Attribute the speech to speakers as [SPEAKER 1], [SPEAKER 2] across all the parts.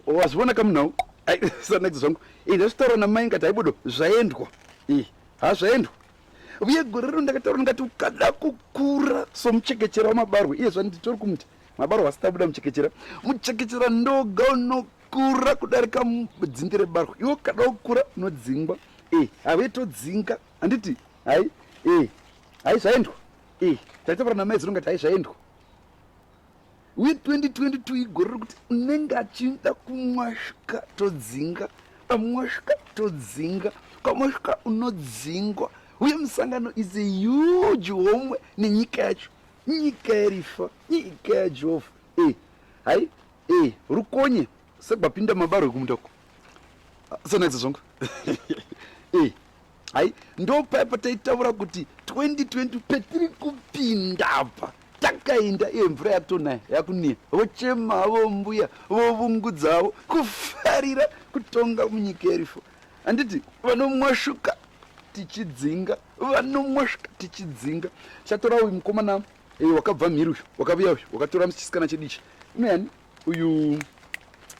[SPEAKER 1] wazviona kamunhau sanadzo zvangu ii ndazvitaura namai ngati haibudo zvaendwa ii ha zvaendwa uye gore rino ndakataura ndingati ukada kukura somuchekechera wamabarwe iye zvanditori kumuti mabarwe asitabuda muchekechera muchekechera ndoga unokura kudarika dzinde rebarwe iwe ukada kukura unodzingwa e have todzinga handiti hai e hai zvaendwa Eh, taitaura namai zinonga taizvaendwa uye 2022 igore rekuti unenge achinda kumwasvika todzinga pamwasvika todzinga pamwasvika unodzingwa uye musangano is a huge homwe nenyika yacho nyika yarifa nyika yajehovha e eh, hai e eh, rukonye sekubapinda mabarwe kumunda uko ah, sonaidza zvongo e eh, hai ndopaya pataitaura kuti 2020 petiri kupinda apa takainda iye mvura yakutonaya yakuniya vochema havo mbuya vovungudza havo kufarira kutonga munyika yerifo handiti vanomwashuka tichidzinga vanomwashuka tichidzinga chatora uyu mukomana eh, wakabva mhiri uyu wakaviya uyu wakatora chisikana chedichi unoyani uyu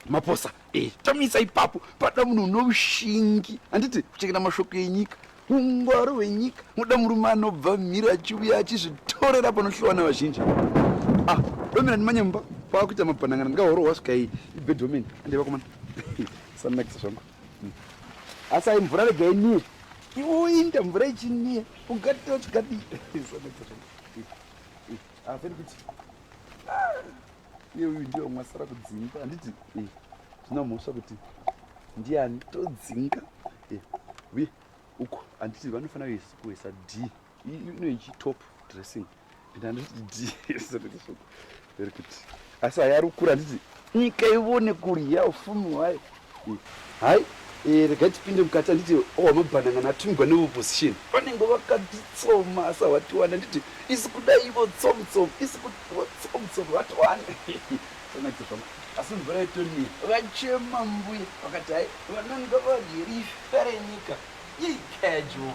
[SPEAKER 1] maposa eh, tamisa ipapo pada munhu une ushingi handiti kuchengeta mashoko enyika ungwaro hwenyika muda murume anobva mhiri achiuya achizvitorera panohlowa na vazhinji ah, domina ndimanye mumba kwakuita mapanangana ndingahorohwa svika iyi ibedwomen andiva komana sanakisa zvangu hmm. asi ai mvura rega inie iwoinda mvura ichinie ungatochikadii sanakisa zvangu hmm. hmm. asi kuti ah. iye uyu ndiye wamwe asara kudzinga handiti eh, zvina mhosva kuti ndiani todzinga eh, uye uko handiti vanofanira kuisa d inoichi top dressing and handiti d ekuti asi hayarukura handiti nyika ivone kurya ufumi wayo Hai, eh, regai tipinde mukati handiti owamabhanangana atumigwa neopposition vanenge vakatitsoma asa watiwani handiti isi kuda ivo tsomtsom isi kutivo tsomtsom vatiwani sonaita zvama asi mvura yetoniya vachema mbuya vakati hai vananga vadye rifa renyika yei casual